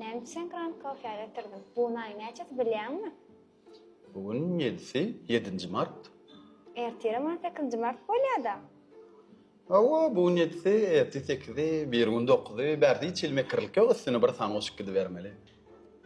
Näme üçin Grand Coffee-a getirdim? Bu gün aýyň näçesi bilýäňmi? Bu gün ýedisi, ýedinji mart. Ertire mart sekizinji mart bolýa-da. Hawa, bu gün ýedisi, ertir sekizi, biri gün dokuzy, bärde hiç hili mekirlik ýok, üstüne bir san goşup gidibermeli.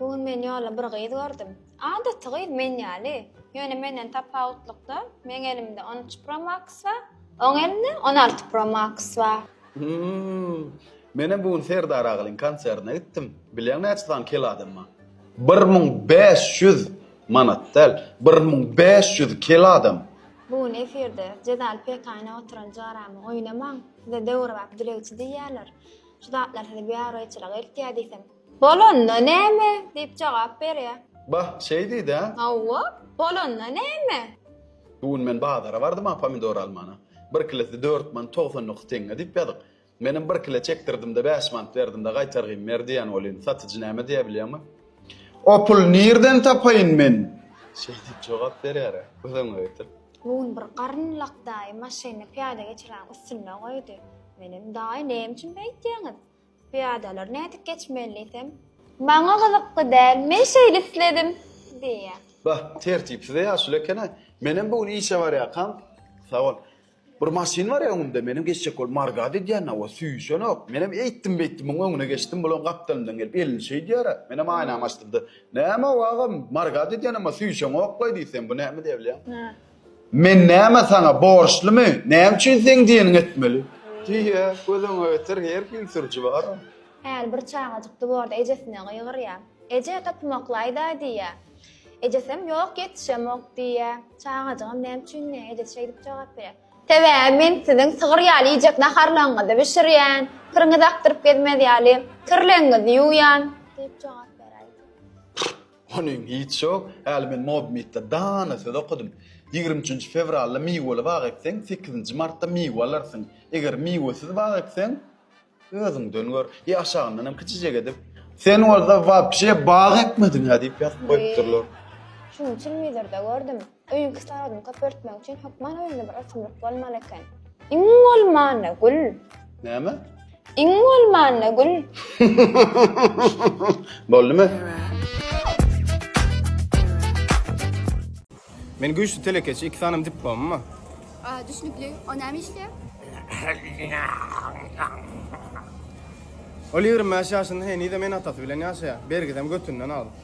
Bu gün men ýolda bir gyz gördüm. Adaty gyz, men ýaly. Ýöne menden tapawutlykda, meň elimde on üç Pro Max bar, oň elinde on alty Pro Max bar. Hmmm. Menem bu gün Serdar agalyň konsertine gitdim. Bilýäň näçe sany kel adam bar? Bir müň bäş ýüz! Manat däl, bir müň bäş ýüz kel adam! Bu gün efirde Jezal pekaýyna oturan jaramy oýnamaň, size döwrebap dilegçi diýýärler. Şu zatlar sizi biabraýçylyga eltýär diýsem. Bolanda näme? diýip jogap berýär. Bah, şeýdid-ä? Hawa, bolanda näme? Bu gün men bazara bardym-a pomidor almana. Bir kilosy dört manat togsan dokuz teňňe diýip ýazyk. Menem bir kilo çekdirdim-de, bäş manat berdim-de, gaýtargyn ber diýen welin, satyjy näme diýer bilýäňmi? O puly nirden tapaýyn men? Şeý diýip jogap berýär-ä. Göz öňüňe getir. Bu gün bir garyn lak daýy maşynyny pyýada geçiräniň üstünde goýdy. Menem, Daýy, näme üçin beýtýäňiz? Pyýadalar nädip geçmeli diýsem. Maňa gyzykly däl, men şeýle isledim, diýýär. Bah, tertipsiz-e ýaşuly eken-ä. Menem bu gün işe barýarkam, sag bol. Bir maşyn bar öňümde, menem geçjek bolup margad edýän, hawa, süýşenok. Menem eýtdim-beýtdim muň öňüne geçdim, bulam gapdalymdan gelip elini şeýdýär-ä. Menem aýnamy açdym-da, Näme-ow, agam, margad edýän, emma süýşeňok-laý diýsem, bu näme diýebilýäň? Men näme saňa borçlymy, näme üçin seň diýeniňi etmeli? Diýýä, Gözüňe getir, her hil sürüji bar-a. Häli bir çagajyk duborda ejesine gygyrýa. Eje, topymaklaýda-aý diýýä. Ejesem, Ýok, ýetişemok diýýä. Çagajygam näme üçin diýýä, ejesi şeýdip jogap berýä. Sebäbi men siziň sygyr ýaly iýjek naharlaryňyzy bişirýän, kiriňizi akdyryp gezmez ýaly kirlegiňizi ýuwýan diýip jogap beräýdi. Onyň hiç ýok, häli men Modmytda dana söz okadym. Ýigrimi üçünji fewralda miweli bag ekseň, sekizinji martda miwe alarsyň. Eger miwesiz bag ekseň, özüňden gör, ýa aşagyndan hem kiçijek edip. Sen bolsa wapşe bag ekmediň-ä diýip ýazyp goýupdyrlar. Şunuň üçinmidir-de, gördüm. Öýüň kislorodyny köpeltmek üçin hökman öýüňde bir ösümlik bolmaly eken. Iň bolmanda gül. Näme? Iň bolmanda gül. Boldumy? Men güýçli telekeçi, iki sanem diplomym bar. Aa, düşnükli. O näme işleýär? Ol ýigrimi bäş ýaşynda henize men atasy bilen ýaşaýar. Bergizem götünden alyp.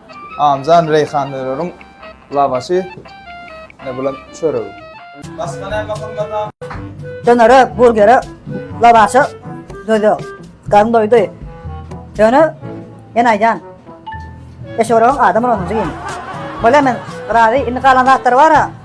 Amjan reýhanlylryň lawaşy ne bulan çöregi. Başga näme gymmat? Dönere, burgere, lawaşa döze. Garyn doýdy. Ýöne men aýdýan. Eşegoragyň adamyr onunjy gini. Bolýa men razy indi galan zatlary bara.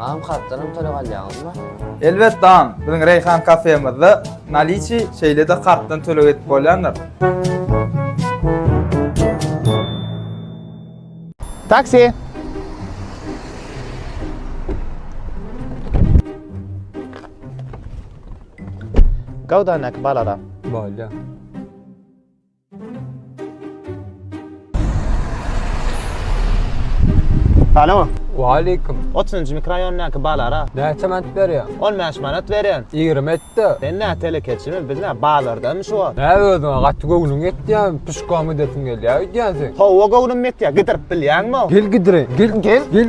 Agam kartdanam töleg alýaňyzmy? Elbetde agam, biziň Reýhan kafemizde naliçi, şeýle-de kartdan töleg edip bolýandyr. Taksi! Gowudanäki balara. Bolýar. Alo. Waleýkim. Otuzynjy mikroraýondaky balara. Näçe manat berýäň? On bäş manat berýän. Ýigrimi et-de. Sen nä telekeçimi, biz nä, bazardamy şu wagt? Näme özüňe gaty göwnüň ýetýärmi, pişkom edesim gelýär öýdýänsiň? Hawa göwnüm ýetýär, gidirip bilýäňmi? Gel gidireýin, gel, gel, gel.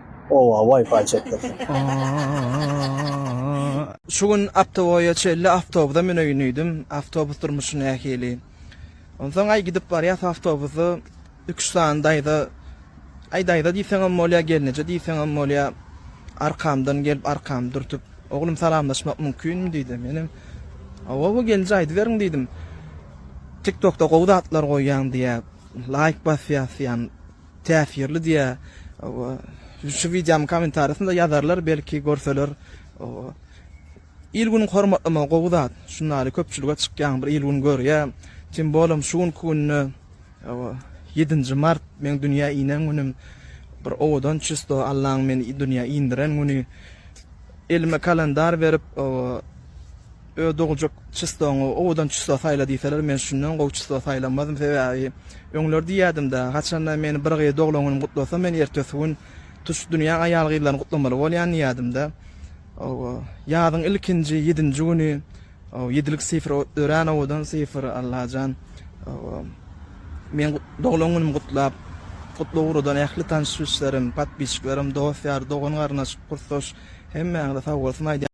Owa, Wi-Fi çekdirsin. Şu gün Aptowoýa çenli awtobusa müneýin diýdim. Awtobus durmuşy nähili? Onsoň aý gidip barýas awtobusda iki-üç sany daýza, aý daýza diýseňem bolýar, gelneje diýseňem bolýar, arkamdan gelip arkamy dürtüp, Oglum salamlaşmak mümkinmi diýdi. Menem Owa-owa gelinje aýdyberiň diýdim. Tiktokda gowy zatlar goýýaň diýýär, laýk basýas diýýän. Täsirli diýä şu wideomyň kommentariýasynda ýazarlar belki görseler il günüň hormatlamagy gowy zat şundaly köpçülige çykýaň bir il gün görýä tym bolem şu günki günde ýedinji mart meň dünýä inen günüm bir owadan çysto allaň meni dünýä indiren güni elime kalendar berip Öz dogjak çystoňy owadan çysto saýla diýseler, men şundan gowy çysto saýlamazm, sebäbi öňler diýýädim-dä, haçanda meni bir gyz doglan günüm gutlasa, men ertesi gün tutuş dünýäň aýal-gyzlaryny gutlamaly bolýan diýýädim-dä. Ýazyň ilkinji ýedinji güni, ýedilik sifr örän owadan sifr, Allajan, meň doglan günüm gutlap, gutly ugrudan ähli tanyş-bilşlerim, podpisçiklerim, dost-ýar, dogan-garyndaş, kursdaş hemmäňize sag bolsun aýdýan.